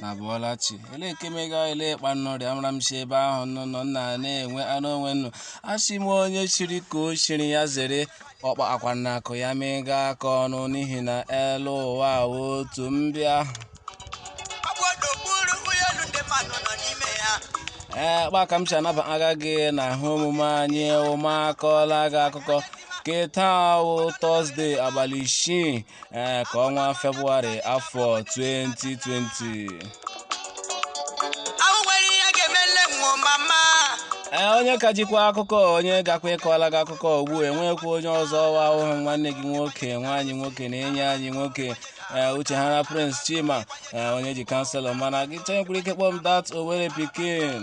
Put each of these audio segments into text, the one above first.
nụ abọọla chi ele nke mega ele kpa nụ rị amara m si ebe ahụ nọ nọ nna na-enwe anụ onwe nnụ asị m onye chiri ka o chiri ya zere ọkpa akwa na akụ ya mega aka ọnụ n'ihi na elu ụwa wụ otu mbịa ee kpa ka m si anaba aga gị na ihe omume anyị ụmụakọla gị akụkọ ke taa wụ tọzde abalị isii ee ke ọnwa febụwarị afọ 2020 ee onye ka jikwa akụkọ onye gakwa ịkọla gị akụkọ ugbu enwekwa onye ọzọ ọ wụ awụhụ nwanne gị nwoke nwa anyị nwoke na enyi anyị nwoke ee uche ha na prince chima ee onye ji kanselọ mana gị chọọ i nwekwara ike kpọọ m dat owere pikin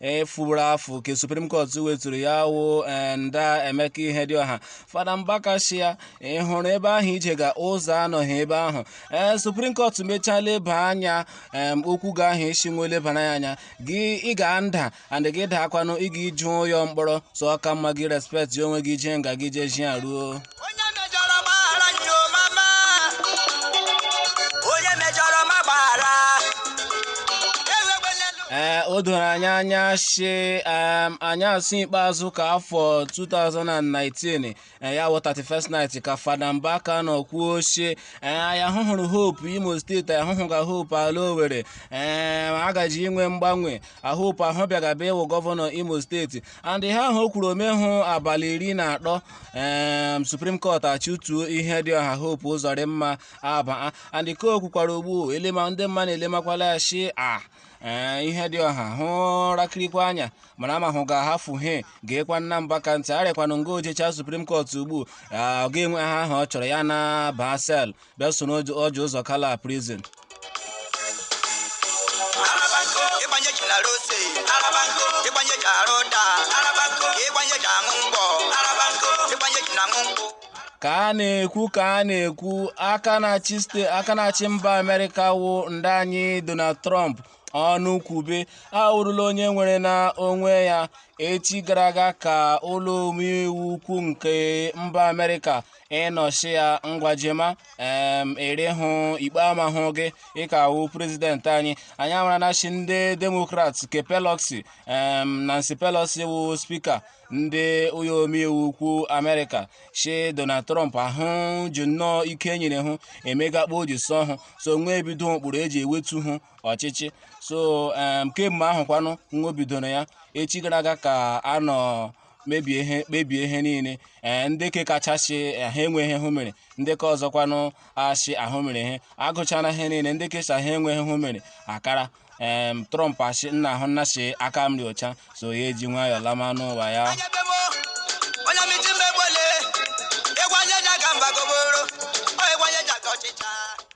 efuru afụ ka supreme court weturu ya wụ nda emeka ihedioha fada mbaka shị a ị hụrụ ebe ahụ i jega ụzọ anọghị ebe ahụ ee supreme court mechaa leba anya em okwu gị ahụ i si nwe lebara ya anya gị ị ga nda and gị daakwanụ ị ga ije ụyọ mkpọrọ so ọ ka mma gị respect onwe gị jee nga gị jee jia ruo onye mejọrọ gbaghara nyo mama onye mejọrọ ma gbaghara ewegbe n'elu ee o doro anyị anya si em, anyasị ikpeazụ ke afọ 2019 eh, ya wụ 31st night ka fada mbaka nọ kwuo si ee ya hụhụrụ hope imo steeti ya hụhụga hope ala owere ee a gaji inwe mgbanwe hope ahụ bịagaba ịwụ gọvanọ imo steeti and ihe ahụ o kwuru o mehụ abalị iri na atọ em supreme court achụtuo ihedioha hope ụzọdịmma abaa and ka o kwukwara ugbu elema ndị mmadụ na-elemakwala ya shi a ee ihedioha hụ rakirikwa anya mara ma hụ ga-ahafụ he gekwa nna mbaka ntị arịakwanụ nga o jechaa supreme court ugbu a ọ ga-enwe he ahụ ọ chọrọ ya na-aba cell bịa soro ọjị ụzọ kalụ prison ịgbanye ji na rose ịgbanye ji arụ ụda ịgbanye ji aṅụ mgbọ ịgbanye ji na aṅụ mgbọ ka a na-ekwu ka a na-ekwu aka na-achị ste aka na-achị mba amerịka wụ nda anyị donald trump ọnụ kwube awụrụla onye nwere na onwe ya echi gara aga ka ụlọ omeiwu ukwu nke mba amerịka nọ shi ya ngwa jema em i rihu ikpe amahụ gị ị ka wụ prezidenti anyị anyị amarana shi ndị demokrat ke pelosi em nancy pelosi wụ spika ndị ụlọ omeiwu ukwu amerịka shi donald trump ahụ ji nnọọ ike e nyere hụ emega kpa o ji sọ hụ so nwa ebido ụkpụrụ eji ewetu hụ ọchịchị so em kemgbe ahụ kwanụ nwa bidoro ya echi gara aga ka a nọ mebie ihe kpebie ihe niile ee ndị ke kachasị eh, ha enweghị hụ mere ndị ke ọzọkwanụ asị ahụ mere ihe agụchara ihe niile ndị ke sị ha enweghị hụ mere akara em trump asị nna ahụ nna si aka m dị ọcha so ya eji nwayọọ lama n'ụwa ya Onye be mụ, onye miti mmegbole, egwu onye ji aga mba goboro, ọ egwu onye ji aga ọchịcha.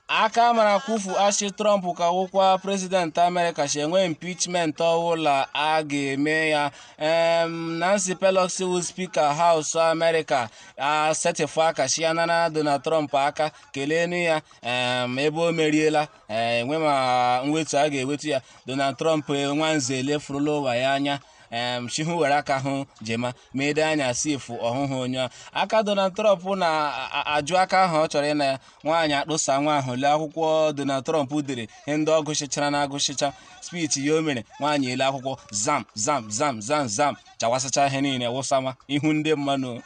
aka mara kwufu asị trump ka wụkwa prezidenti amerịka si enwe impeachment ọwụla a ga-eme ya um, nancy pelosi wụ speaker house amerịka asetịfụ aka si ya nara donald trump aka keleenu ya um, ebe o meriela enwe ma mwetu a ga-ewetu ya donald trump nwanze elefurula ụwa ya anya um, chihu were aka ahụ jema ma ede anya si efu ọhụhụ onye aka donald trump na-ajụ aka ahụ ọ chọrọ ịna ya nwaanyị akpụsa nwa ahụ lee akwụkwọ Donald Trump dere ihe ndị ọ gụchịchara na agụchịcha speech ya o mere nwaanyị ele akwụkwọ zam zam zam zam zam chawasịcha ihe niile wụsama ihu ndị mmanụ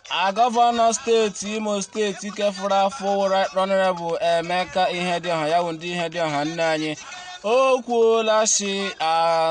A gọvanọ steeti Imo steeti ke fụrụ afụ Right Honorable Emeka Ihedioha ya wụ ndị Ihedioha nne anyị o kwuola si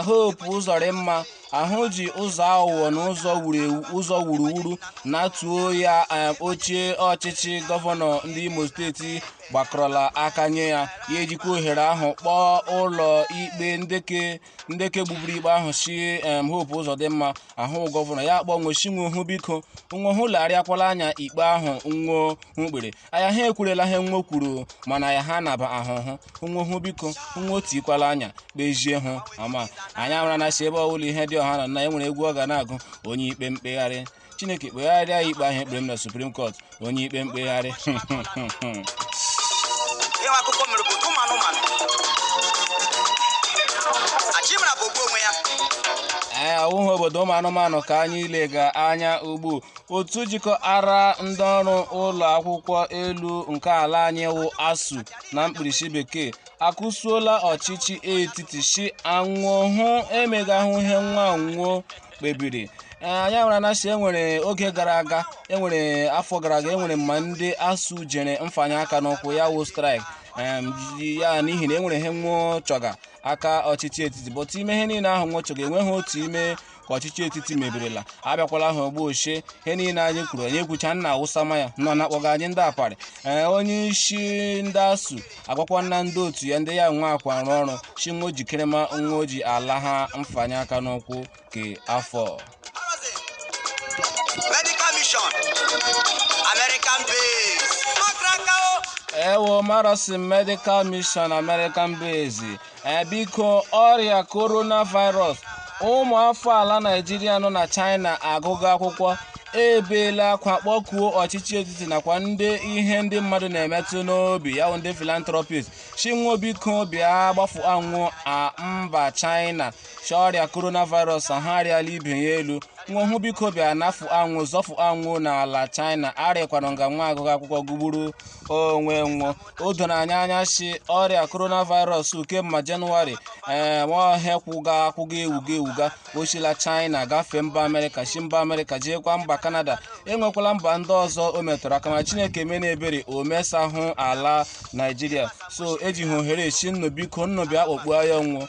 Hope Uzodimma ahụ ji ụzọ awụwọ na ụzọ wuru ewu ụzọ wuruwuru natuo ya em, oche ọchịchị gọvanọ ndị Imo steeti gbakọrọla aka nye ya ya ejikwa ohere ahụ kpọọ ụlọ ikpe ndị ke ndị ke gbuburu ikpe ahụ si em Hope Uzodimma wụ gọvanọ ya akpọ nwo si nwo hụ biko nwo hụ legharịakwala anya ikpe ahụ nwo hụ kpere aya ha ekwurela ihe nwo kwuru mana ya ha naba ahụhụ nwo hụ biko nwo tikwala anya kpezie hụ ama anyị amara na si ebe ọwụla Ihedioha nọ na enwere egwu ọ ga na-agụ onye ikpe mkpegharị chineke kpegharịa ya ikpe ahụ e kpere m na supreme court onye ikpe mkpegharị ịwa akụkọ mere bụ ụmụ anụmanụ achimara bụ ogbu onwe ya ee awụghị obodo ụmụ anụmanụ ka anyị ilega anya ugbu otu jikọtara ndị ọrụ ụlọ akwụkwọ elu nke ala anyị wụ ASUU na mkpirisi bekee akụsuola ọchịchị etiti si a nwo hụ emegahụ ihe nwa nwo kpebiri anyị mara na sị enwere oge gara aga enwere afọ gara aga enwere ma ndị ASUU jere mfanye aka n'ukwu ya wụ strike ya n'ihi na enwere ihe nwo chọga ka ọchịchị etiti bụtụ ime ihe niile ahụ nwo chọga enweghị otu ime ka ọchịchị etiti mebirila abịakwala ha ugbu ọ sị ihe niile anyị kwuru anyị ekwucha nna awụsa ma ya nọ na-akpọga anyị ndị aparị onye isi ndị ASUU agwakwa na ndị otu ya ndị ya nwa akwa arụ ọrụ shi nwo jikere ma nwa oji ala ha mfanye aka n'ụkwụ ke afọ ewo marasin medical mission american base Ee biko ọrịa coronavirus ụmụ afọ ala Naịjirịa nọ na China agụga akwụkwọ ebeela akwa kpọkuo ọchịchị etiti nakwa ndị ihe ndị mmadụ na-emetụ n'obi ya wụ ndị philanthropist shi nwo biko bịa gbafụa nwo a mba China si ọrịa coronavirus ahụ arịala ibe ya elu nwo hụ biko bịa nafụa nwo zọfụa nwo n'ala China a rịkwanụ nga nwo agụga akwụkwọ gụgburu onwe nwo o doro anyị anya si ọrịa coronavirus kemgbe jenụwarị ee nwaọhịa kwụga akwụga ewuga ewuga o sila china gafee mba amerịka si mba amerịka jeekwa mba kanada enwekwala mba ndị ọzọ o metụrụ aka ma chineke meena ebere o mesahụ ala naijiria so eji ha ohere si nnụ biko nnụ bịa kpọkpuo ya nwo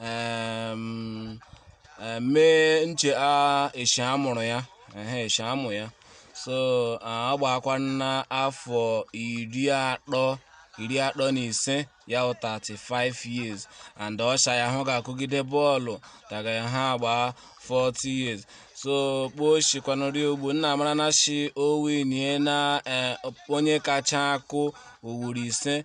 um, eh, mee nche a eshi amụrụ ya ehe eshi amụ ya so ah, ọ gbaakwana afọ iri atọ iri atọ na ise ya wụ 35 years and ọ shi ya hụ ga-akụgide bọọlụ daga ya ha gbaa 40 years so kpoo shikwanụri ogbu nna mara na shi o winniena eh, onye kacha akụ ugboro ise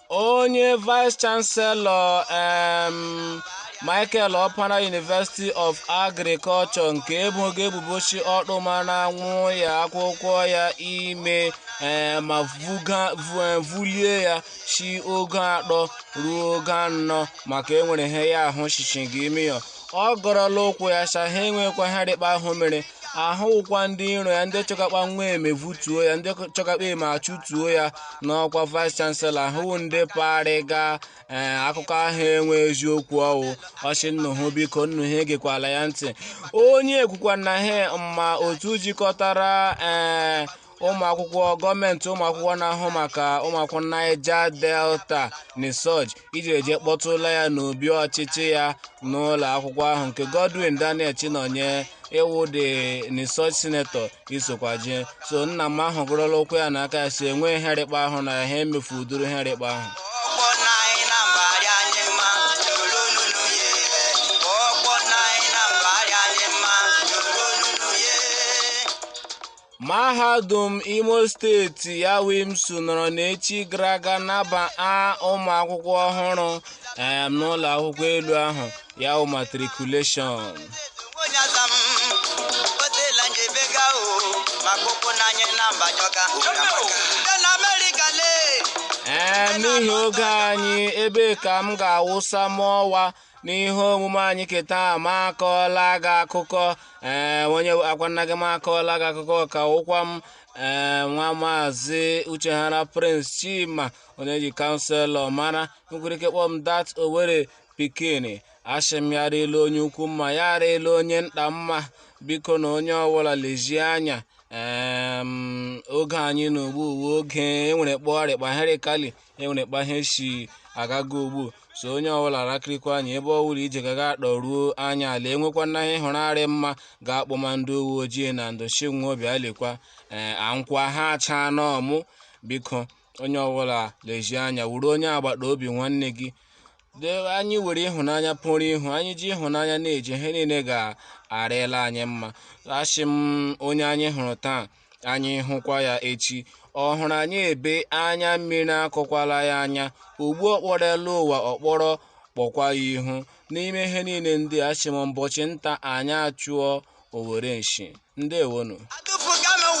onye vice chancellor um, michael okpara university of agriculture nke e boga ebubo shi ọ tụmana nwa akwụkwọ ya ime eh, ma vuga- vu- eh, vulie ya si ogo atọ ruo ogo anọ maka enwere ihe ya ahụ shishi gị miyọ ọ gọrọla ụkwụ ya shi a ha enwekwa ihe rị kpa ahụ mere ahụ wụkwa ndị iro ya ndị chọga kpa nwo eme vutuo ya ndị chọga kpa eme achụtuo ya n'ọkwa vice chancellor ahụ wụ ndị parịga ee akụkọ ahụ enwe eziokwu ọ wụ ọ shi nnụ hụ biko nnụ ha egekwala ya ntị onye ekwukwana ha ma otu jikọtara ee ụmụakwụkwọ gọọmenti ụmụakwụkwọ na-ahụ maka ụmụakwụkwọ Niger Delta NIDSUG ejiri eje kpọtụla ya n'obi ọchịchị ya n'ụlọ akwụkwọ ahụ nke Godwin Daniel Chinonye wụ the NIDSUG senator isokwa je so nna m ahụ gọrọla ụkwụ ya na aka ya si enwe ihe rị kpa ahụ na ha emefu ụdụrụ ihe rị kpa ahụ Mahadum Imo steeti ya wụ IMSU nọrọ n'echi gara aga nabaa ụmụ akwụkwọ ọhụrụ em, n'ụlọ akwụkwọ elu ahụ ya wụ matriculation. onye aza m otela nje bega o maka ụkwụ n'anya na mba jọka ndị na amerịka lee Ee, n'ihi oge anyị ebe a ka m ga-awụsa m ọwa n'ihe omume anyị nke taa m akọọla gị akụkọ ee onye akwanna gị m akọọla gị akụkọ a ka wụkwa m ee nwa maazị Uchehara Prince Chima onye ji kanselọ mara i nwere ike kpọọ m dat Owere pikin asị m ya rịla onye ukwu mma ya rịla onye nta mma biko na onye ọbụla lezie anya ee oge anyị nọ ugbu a wụ oge e nwere kpa ọ rị kpa ihe rị kali e nwere kpa ihe si agaga ugbu a so onye ọbụla rakirikwa anya ebe ọ wụla i je-agaga kpọruo anya ala e nwekwanụ ihe ị hụrụ arịghị mma ga kpọọ ma ndị uwe ojii na ndụ si nwa obi alikwa ee ankwa ha achaa n'ọmụ biko onye ọbụla lezie anya wụrụ onye agbata obi nwanne gị dee anyị were ịhụnanya pụrụ ihu anyị ji ịhụnanya na-eje ihe niile ga-arịla anyị mma asị m onye anyị hụrụ taa ka anyị hụkwa ya echi ọ hụrụ anyị ebe anya mmiri akọkwala ya anya ugbu ọkpọrọ elu ụwa ọkpọrọ kpọkwa ya ihu n'ime ihe niile ndị a asị m mbọchị nta anyị achụọ owere nchi ndewonu